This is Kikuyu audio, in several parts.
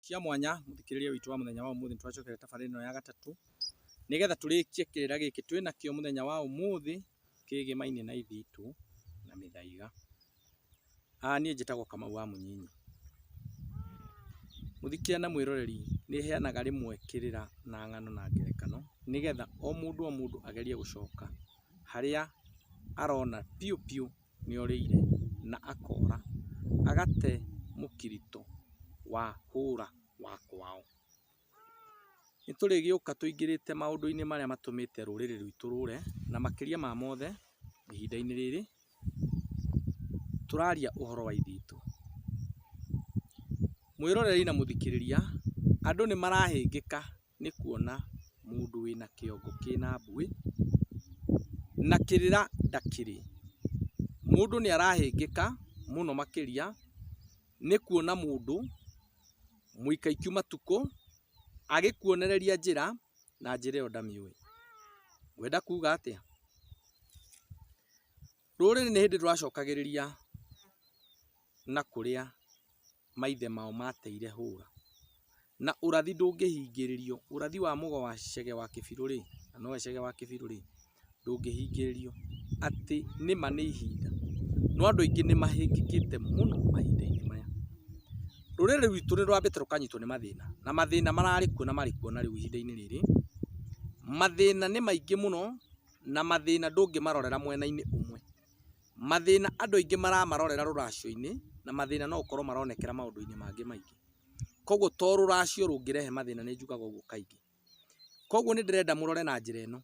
Cia mwanya mũthikĩrĩria witũ wa mũthenya wa ũmũthĩ nĩtũracokera tabarĩra ĩno ya gatatũ nĩgetha tũrĩkie kĩrĩra gĩkĩ twĩ nakĩo mũthenya wa ũmũthĩ kĩgĩmainie na ithe itũ na mĩthaiga. Aa niĩ njĩtagwo Kamau wa Mũnyinyi. Mũthikĩria na mwĩroreri nĩheanaga rĩmwe kĩrĩra na ng'ano na ngerekano nĩgetha o mũndũ o mũndũ agerie gũcoka harĩa arona biũ biũ. nĩorĩire na akora agate mũkiritũ wa hũra wa kwao. Nĩtũrĩgĩũka tũingĩrĩte maũndũ-inĩ marĩa matũmĩte rũrĩrĩ rwitũ rũre, na makĩria ma mothe ihinda-inĩ rĩrĩ tũraria ũhoro wa ithe witũ. Mwĩroreri na mũthikĩrĩria, andũ nĩmarahĩngĩka. nĩ kuona mũndũ wĩna kĩongo kĩna mbuĩ na kĩrĩra ndakĩrĩ. Mũndũ nĩ arahĩngĩka mũno makĩria nĩ kuona mũndũ mũikaiku matukũ agĩkuonereria njĩra na njĩra ĩyo ndamĩũĩ. Ngwenda kuga atĩa? Rũrĩrĩ nĩ hĩndĩ rũracokagĩrĩria na kũrĩa. maithe mao mateire hũra. Na ũrathi ndũngĩhingĩrĩrio, ũrathi wa mũgo wa Chege wa Kĩbirũ rĩ, na nowe Chege wa Kĩbirũ rĩ, ndũngĩhingĩrĩrio, atĩ nĩma nĩ ihinda. No andũ aingĩ nĩ mahĩngĩkĩte mũno mahinda-inĩ maya. Rũrĩrĩ rwitũ nĩ rwambĩte rũkanyitwo nĩ mathĩna, na mathĩna mararĩ kuo na marĩ kuo na rĩu ihinda-inĩ rĩrĩ, mathĩna nĩ maingĩ mũno, na mathĩna ndũngĩmarorera mwena-inĩ ũmwe. Mathĩna andũ aingĩ maramarorera rũracio-inĩ na mathĩna no ũkorwo maronekera maũndũ-inĩ mangĩ maingĩ. Koguo to rũracio rũngĩrehe mathĩna nĩ njugaga ũguo kaingĩ. Koguo nĩ ndĩrenda mũrore na njĩra ĩno,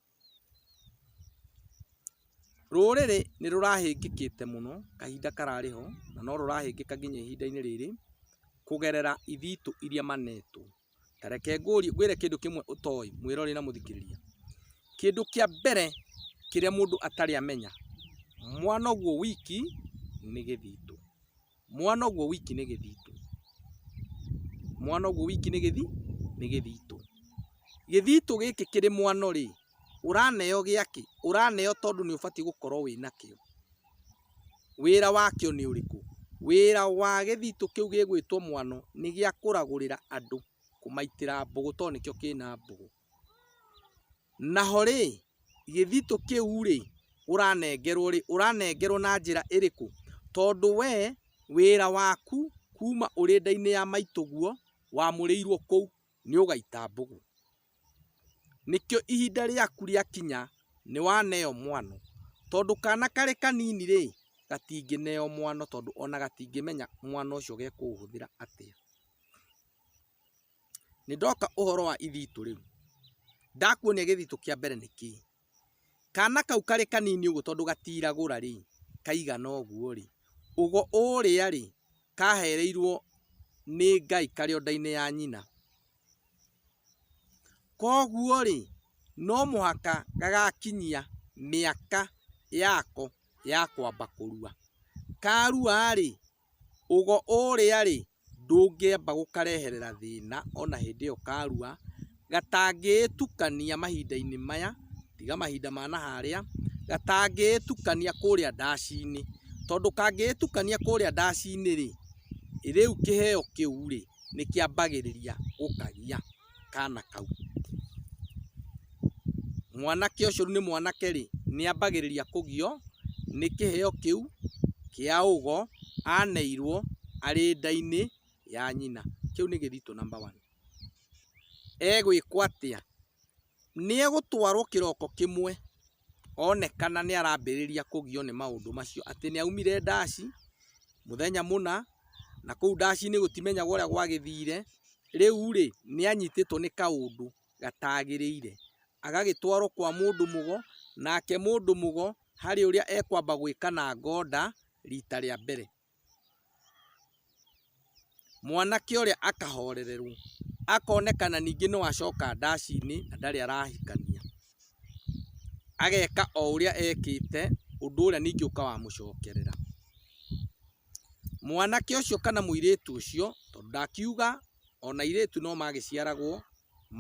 rũrĩrĩ nĩ rũrahĩngĩkĩte mũno kahinda kararĩ ho na no rũrahĩngĩka nginya ihinda-inĩ rĩrĩ kũgerera ithitũ iria manetwo. Ta reke ngwĩre kĩndũ kĩmwe ũtoĩ mwĩroreri na mũthikĩrĩria. Kĩndũ kĩa mbere kĩrĩa mũndũ atarĩ amenya, mwana ũguo wiki nĩ gĩthitũ. Mwana ũguo wiki nĩ gĩthitũ. Mwana ũguo wiki nĩ gĩthi, nĩ gĩthitũ. Gĩthitũ gĩkĩ kĩrĩ mwano rĩ, ũraneo gĩakĩ? Ũraneo tondũ nĩ ũbatiĩ gũkorwo wĩnakĩo. Wĩra wakĩo nĩ ũrĩkũ? Wĩra wa gĩthitũ kĩu gĩgwĩtwo mwano nĩ gĩa kũragũrĩra andũ, kũmaitĩra mbũgũ tondũ nĩkĩo kĩna mbũgũ. Naho rĩ, gĩthitũ kĩu rĩ, ũranengerwo rĩ, ũranengerwo na njĩra ĩrĩkũ? Tondũ we wĩra waku kuma ũrĩ nda-inĩ ya maitũguo wamũrĩirwo kũu. nĩ ũgaita mbũgũ. Nĩkĩo ihinda rĩaku rĩakinya nĩ waneo mwano. Tondũ kana karĩ kanini rĩ, gatingĩneo mwano tondũ ona gatingĩmenya mwano ũcio gekũũhũthĩra atĩa. Nĩ ndoka ũhoro wa ithitũ rĩu. Ndakuonia gĩthitũ kĩa mbere nĩ kĩĩ? Kana kau karĩ kanini ũguo tondũ gatiragũra rĩ, kaigana ũguo rĩ, ũgo ũũrĩa rĩ, kahereirwo nĩ Ngai karĩ o nda-inĩ ya nyina. Koguo rĩ, no mũhaka gagakinyia mĩaka yako ya kwamba kũrua. Karua rĩ, ũgo ũũrĩa rĩ, ndũngĩamba gũkareherera thĩna ona hĩndĩ ĩyo karua, gatangĩĩtukania mahinda-inĩ maya, tiga mahinda ma na harĩa, gatangĩĩtukania kũũrĩa ndaci-inĩ, tondũ kangĩĩtukania kũũrĩa ndaci-inĩ rĩ, rĩu kĩheo kĩu rĩ, nĩ kĩambagĩrĩria gũkagia. kana kau. Mwanake ũcio rĩu nĩ mwanake rĩ, nĩ ambagĩrĩria kũgio nĩ kĩheo kĩu kĩa ũgo aneirwo arĩ nda-inĩ ya nyina. Kĩu nĩ gĩthitũ number one. Egwĩkwo atĩa? Nĩ egũtwarwo kĩroko kĩmwe. onekana nĩarambĩrĩria kũgio nĩ maũndũ macio atĩ nĩaumire ndaci mũthenya mũna na kũu ndacinĩ gũtimenyagwo ũrĩa gwagĩthire, rĩu rĩ nĩanyitĩtwo nĩ kaũndũ gatagĩrĩire agagĩtwarwo kwa mũndũ mũgo nake mũndũ mũgo harĩ ũrĩa ekwamba gwĩkana ngoda rita rĩa mbere. Mwanake ũrĩa akahorererwo, akonekana ningĩ no acoka ndaci-inĩ na ndarĩ arahikania, ageka o ũrĩa ekĩte, ũndũ ũrĩa ningĩ ũka wa mũcokerera. Mwanake ũcio kana mũirĩtu ũcio, tondũ ndakiuga ona airĩtu no magĩciaragwo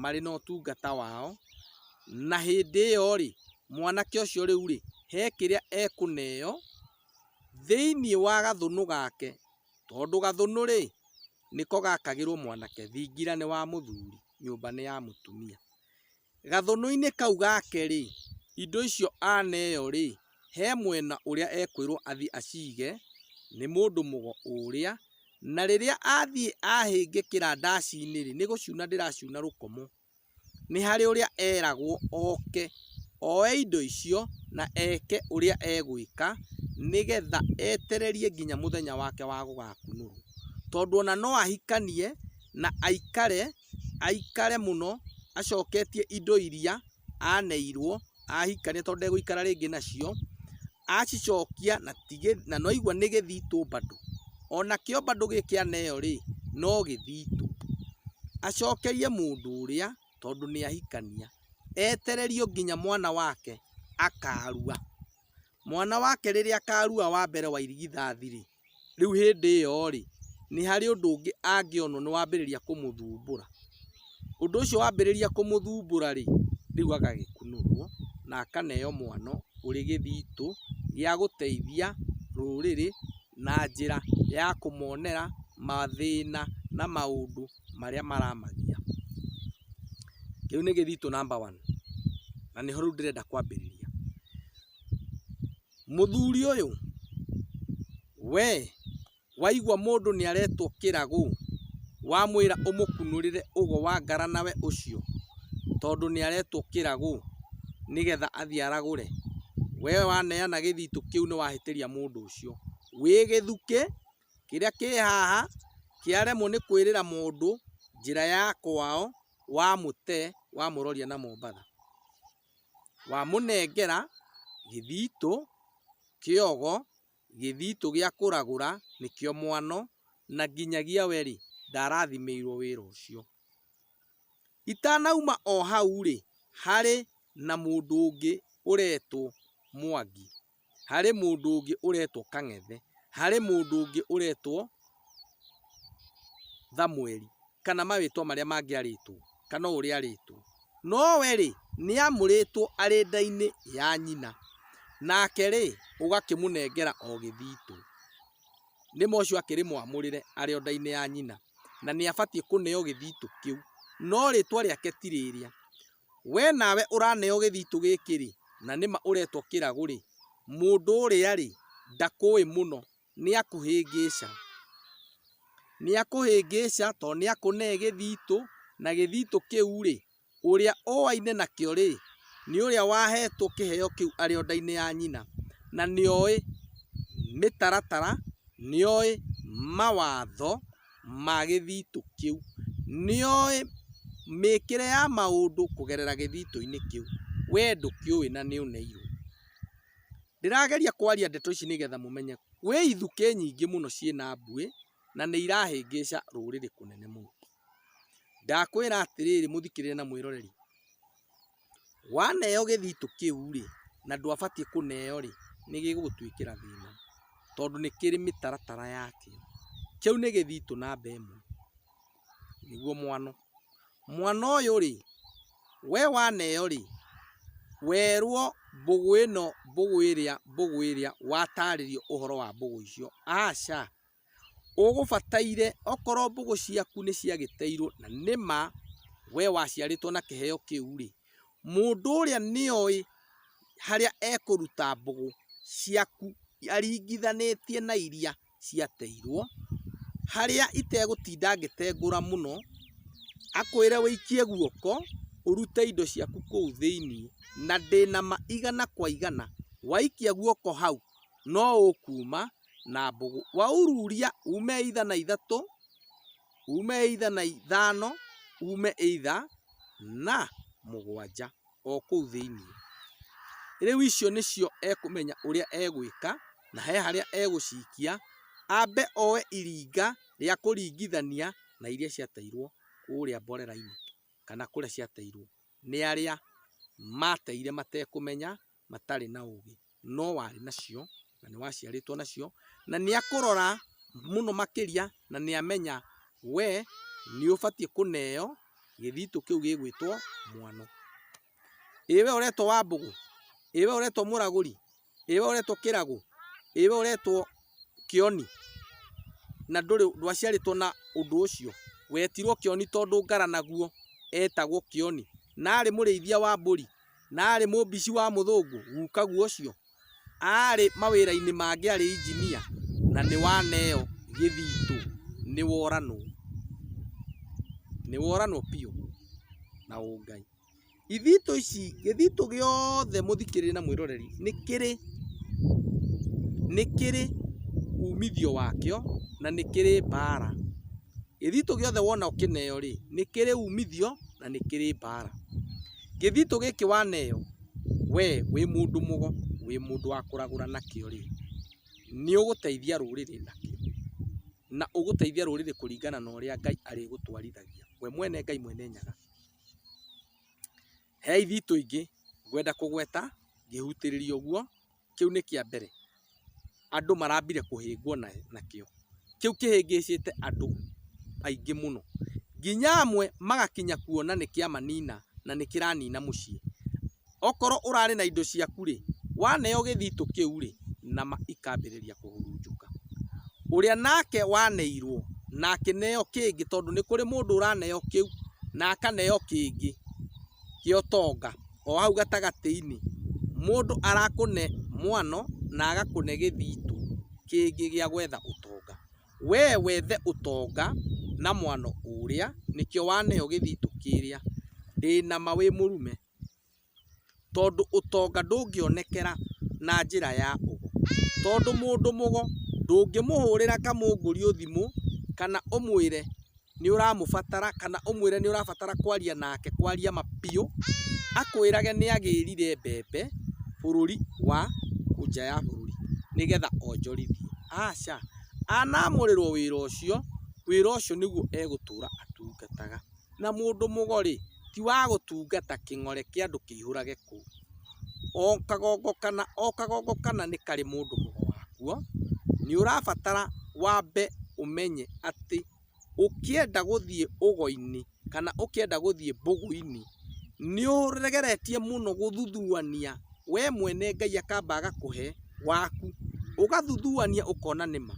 marĩ na ũtungata wao, na hĩndĩ ĩyo rĩ, mwanake ũcio rĩu rĩ, he kĩrĩa ekũneo. thĩinĩ wa gathũnũ gake, tondũ gathũnũ-rĩ, nĩko gakagĩrwo mwanake, thingira nĩ wa mũthuri, nyũmba nĩ ya mũtumia. Gathũnũ-inĩ kau gake-rĩ, indo icio aneo-rĩ, he mwena ũrĩa ekwĩrwo athiĩ acige nĩ mũndũ mũgo ũrĩa, na rĩrĩa athiĩ ahĩngĩkĩra ndaci-inĩ-rĩ, nĩ gũcuna ndĩracuna rũkomo. nĩ harĩ ũrĩa eragwo oke oe indo icio na eke ũrĩa egwĩka nĩgetha etererie nginya mũthenya wake wa gũgakunũrwo. Tondũ ona no ahikanie na aikare, aikare mũno acoketie indo iria aneirwo ahikania tondũ ndegũikara rĩngĩ nacio. acicokia na nĩwaigua nĩ gĩthitũ bado onakĩo bado gĩkĩaneyo rĩ no gĩthitũ, acokerie mũndũ ũrĩa tondũ nĩ ahikania etererio nginya mwana wake akarua, mwana wake rĩrĩa akarua wa mbere wa irigithathi rĩ. Rĩu hĩndĩ ĩyo-rĩ, nĩ harĩ ũndũ ũngĩ angĩonwo nĩ wambĩrĩria kũmũthumbũra. Ũndũ ũcio wambĩrĩria kũmũthumbũra-rĩ, rĩu agagĩkunũrwo na akaneo mwano ũrĩ gĩthitũ gĩa gũteithia rũrĩrĩ na njĩra ya kũmonera mathĩna na maũndũ marĩa maramagia. Kĩu nĩ gĩthitũ namba one na nĩho rĩu ndĩrenda kwambĩrĩria. Mũthuri ũyũ we waigua mũndũ nĩaretwo kĩragũ wamwĩra ũmũkunũrĩre ũgo wa ngaranawe ũcio tondũ nĩaretwo kĩragũ nĩgetha athiĩ aragũre, we waneana gĩthitũ kĩu nĩwahĩtĩria mũndũ ũcio. Wĩ gĩthukĩ kĩrĩa kĩ haha kĩaremwo nĩ kwĩrĩra mũndũ njĩra ya kwao wamũte wamũroria na Mombatha. wamũnengera gĩthitũ, kĩogo, gĩthitũ gĩa kũragũra nĩkĩo mwano na nginyagia we rĩ ndarathimĩirwo wĩra ũcio. Itanauma o hau rĩ harĩ na mũndũ ũngĩ ũretwo Mwangi. harĩ mũndũ ũngĩ ũretwo Kang'ethe, harĩ mũndũ ũngĩ ũretwo Thamweri, kana marĩtwa marĩa mangĩ arĩtwo, kana o ũrĩa arĩtwo. No we rĩ, nĩ amũrĩtwo arĩ nda-inĩ ya nyina, nake rĩ, ũgakĩmũnengera o gĩthitũ. Nĩ ma ũcio akĩrĩ mwamũrĩre arĩ o nda-inĩ ya nyina, na nĩ abatiĩ kũneo gĩthitũ kĩu. No rĩtwa rĩake ti rĩrĩa. We nawe ũraneo gĩthitũ gĩkĩ rĩ, na nĩ ma ũretwo kĩragũ rĩ, mũndũ ũrĩa rĩ, ndakũũĩ mũno, nĩ akũhĩngĩca. Nĩ akũhĩngĩca tondũ nĩ akũnee gĩthitũ, na gĩthitũ kĩu rĩ, ũrĩa ũaine nakĩo rĩ, nĩ ũrĩa wahetwo kĩheo kĩu arĩ o nda-inĩ ya nyina, na nĩ oĩ mĩtaratara, nĩ oĩ mawatho. ma gĩthitũ kĩu nĩoĩ mĩkĩre ya maũndũ kũgerera gĩthitũ-inĩ kĩu, we ndũkĩũĩ na nĩ ũneirwo. Ndĩrageria kwaria ndeto ici nĩgetha mũmenye gwĩ ithukĩ nyingĩ mũno ciĩna mbuĩ na nĩ irahĩngĩca rũrĩrĩ kũnene mũno. Ndakwĩra atĩrĩrĩ mũthikĩrĩria na mwĩroreri, waneo gĩthitũ kĩu rĩ, na ndwabatiĩ kũneo rĩ, nĩ gĩgũgũtuĩkĩra thĩna, tondũ nĩ kĩrĩ mĩtaratara yakĩo. Kĩu nĩ gĩthitũ namba ĩmwe, nĩguo mwano. Mwano ũyũ rĩ, we waneo rĩ, werwo mbũgũ ĩno, mbũgũ ĩrĩa, mbũgũ ĩrĩa, watarĩrio ũhoro wa mbũgũ icio, aca. ũgũbataire okorwo mbũgũ ciaku nĩ ciagĩteirwo na nĩma we waciarĩtwo na kĩheo kĩu rĩ, mũndũ ũrĩa nĩ oĩ harĩa ekũruta mbũgũ ciaku aringithanĩtie na iria ciateirwo, harĩa itegũtinda ngĩtengũra mũno, akwĩre ũikie guoko ũrute indo ciaku kũu thĩiniĩ na ndĩnama igana kwa igana, waikia guoko hau. no ũkuuma na mbũgũ. Waururia uume either na ithatũ, uume either na ithano, uume either na mũgwanja o kũu thĩinĩ. Rĩu icio nĩcio ekũmenya ũrĩa egwĩka na he harĩa egũcikia, ambe oe iringa rĩa kũringithania na iria ciateirwo kũrĩa mborera-inĩ kana kũrĩa ciateirwo nĩ arĩa mateire matekũmenya. matarĩ na ũgĩ, no warĩ nacio, na nĩ waciarĩtwo nacio, na nĩ akũrora mũno makĩria, na nĩ amenya we nĩ ũbatiĩ kũneo gĩthitũ kĩu gĩgwĩtwo mwano. Ĩ we ũretwo Wambũgũ? Ĩ we ũretwo Mũragũri? Ĩ we ũretwo Kĩragũ? Ĩ we ũretwo Kĩoni? Na ndũrĩ, ndwaciarĩtwo na ũndũ ũcio. Wetirwo Kĩoni tondũ Ngaranaguo etagwo Kĩoni, na arĩ mũrĩithia wa mbũri. na arĩ mũmbici wa mũthũngũ gukagu ũcio, arĩ mawĩra-inĩ mangĩ arĩ injinia na nĩ wa neo gĩthitũ nĩ woranwo, nĩ woranwo biũ na ũngai. Ithitũ ici, gĩthitũ gĩothe mũthikĩrĩria na mwĩroreri nĩ kĩrĩ, nĩ kĩrĩ umithio wakĩo na nĩ kĩrĩ mbara. Gĩthitũ gĩothe wona ũkĩneo rĩ, nĩ kĩrĩ umithio na nĩ kĩrĩ mbara. Gĩthitũ gĩkĩ waneo we wĩ mũndũ mũgo, wĩ mũndũ wa kũragũra nakĩo rĩ, nĩ ũgũteithia rũrĩrĩ nakĩo, na ũgũteithia rũrĩrĩ kũringana na ũrĩa Ngai arĩgũtwarithagia, we mwene Ngai mwene Nyaga. He ithitũ ingĩ ngwenda kũgweta ngĩhutĩrĩria ũguo, kĩu nĩ kĩa mbere, andũ marambire kũhĩngwo nakĩo. Kĩu kĩhĩngĩcĩte andũ aingĩ mũno nginya amwe magakinya kuona nĩ kĩa manina na nĩ kĩranina mũciĩ. Okorwo ũrarĩ na indo ciaku rĩ, waneo gĩthitũ kĩu rĩ, nama ikambĩrĩria kũhurunjũka. Ũrĩa nake waneirwo na akĩneo kĩngĩ, tondũ nĩ kũrĩ mũndũ ũraneo kĩu na akaneo kĩngĩ. kĩa ũtonga o hau gatagatĩ-inĩ, mũndũ arakũne mwano na agakũne gĩthitũ kĩngĩ gĩa gwetha ũtonga, we wethe ũtonga na mwano ũrĩa nĩkĩo waneo gĩthitũ kĩrĩa, ndĩna ma wĩ mũrume, tondũ ũtonga ndũngĩonekera na njĩra ya ũgo, tondũ mũndũ mũgo ndũngĩmũhũrĩra kamũngũrio thimũ kana ũmwĩre nĩ ũramũbatara kana ũmwĩre nĩ ũrabatara kwaria nake kwaria ma biũ, akwĩrage nĩ agĩrire mbembe bũrũri wa nja ya bũrũri nĩgetha onjorithie. Aca, anamũrĩrwo wĩra ũcio, wĩra ũcio nĩguo egũtũra atungataga. Na mũndũ mũgori ti wa gũtungata kĩng'ore kĩa andũ kĩihũrage kũu. O kagongo kana o kagongo kana nĩ karĩ mũndũ mũgo wakuo, nĩ ũrabatara wambe ũmenye atĩ... ũkĩenda gũthiĩ ũgo-inĩ kana ũkĩenda gũthiĩ mbũgũ-inĩ, nĩũgeretie mũno gũthuthuania we mwene Ngai akamba agakũhe waku, ũgathuthuania ũkona nĩma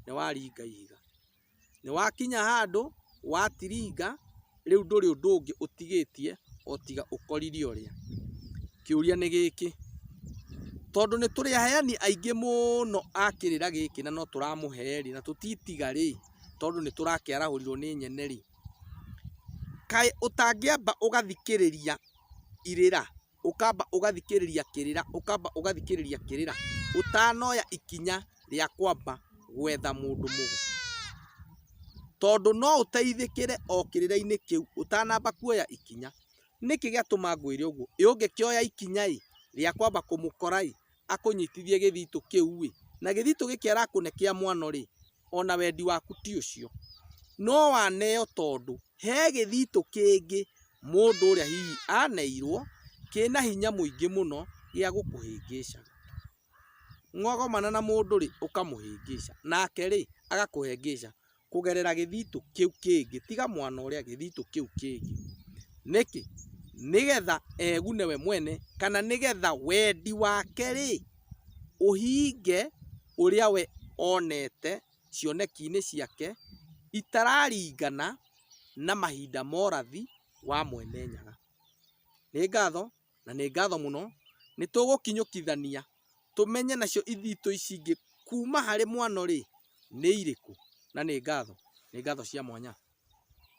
nĩwaringa ihiga, nĩwakinya handũ watiringa. rĩu ndũrĩ ũndũ ũngĩ ũtigĩtie otiga ũkorire ũrĩa. Kĩũria nĩ gĩkĩ, tondũ nĩ tũrĩ aheani aingĩ mũno a kĩrĩra gĩkĩ na no tũramũhe rĩ, na tũtitiga rĩ, tondũ nĩ tũrakĩarahũrirwo nĩ nyene rĩ, kaĩ ũtangĩamba ũgathikĩrĩria irĩra? ũkamba ũgathikĩrĩria kĩrĩra, ũkamba ũgathikĩrĩria kĩrĩra ũtanoya ikinya rĩa kwamba gwetha mũndũ mũgo. Tondũ no ũteithĩkĩre o kĩrĩra-inĩ kĩu ũtanamba kuoya ikinya. Nĩkĩ gĩatũma ngwĩre ũguo? Ĩ ũngĩkĩoya ikinya-ĩ, rĩa kwamba kũmũkora-ĩ, akũnyitithie gĩthitũ kĩu-ĩ, na gĩthitũ gĩkĩ arakũne kĩa mwano-rĩ, ona wendi waku ti ũcio. No waneo tondũ he gĩthitũ kĩngĩ mũndũ ũrĩa hihi aneirwo kĩna hinya mũingĩ mũno gĩa gũkũhĩngĩca. Mwagomana na mũndũ-rĩ, ũkamũhĩngĩca, nake-rĩ, agakũhĩngĩca. kũgerera gĩthitũ kĩu kĩngĩ, tiga mwana ũrĩa gĩthitũ kĩu kĩngĩ. Nĩkĩ? Nĩgetha egune we mwene, kana nĩgetha wendi wake rĩ, ũhinge ũrĩa we onete cioneki-inĩ ciake itararingana na mahinda morathi wa Mwene Nyaga. Nĩ ngatho na nĩ ngatho mũno. Nĩtũgũkinyũkithania tũmenye nacio ithitũ ici ingĩ kuuma harĩ mwano-rĩ, nĩ irĩkũ. Na nĩ ngatho. Nĩ ngatho cia mwanya.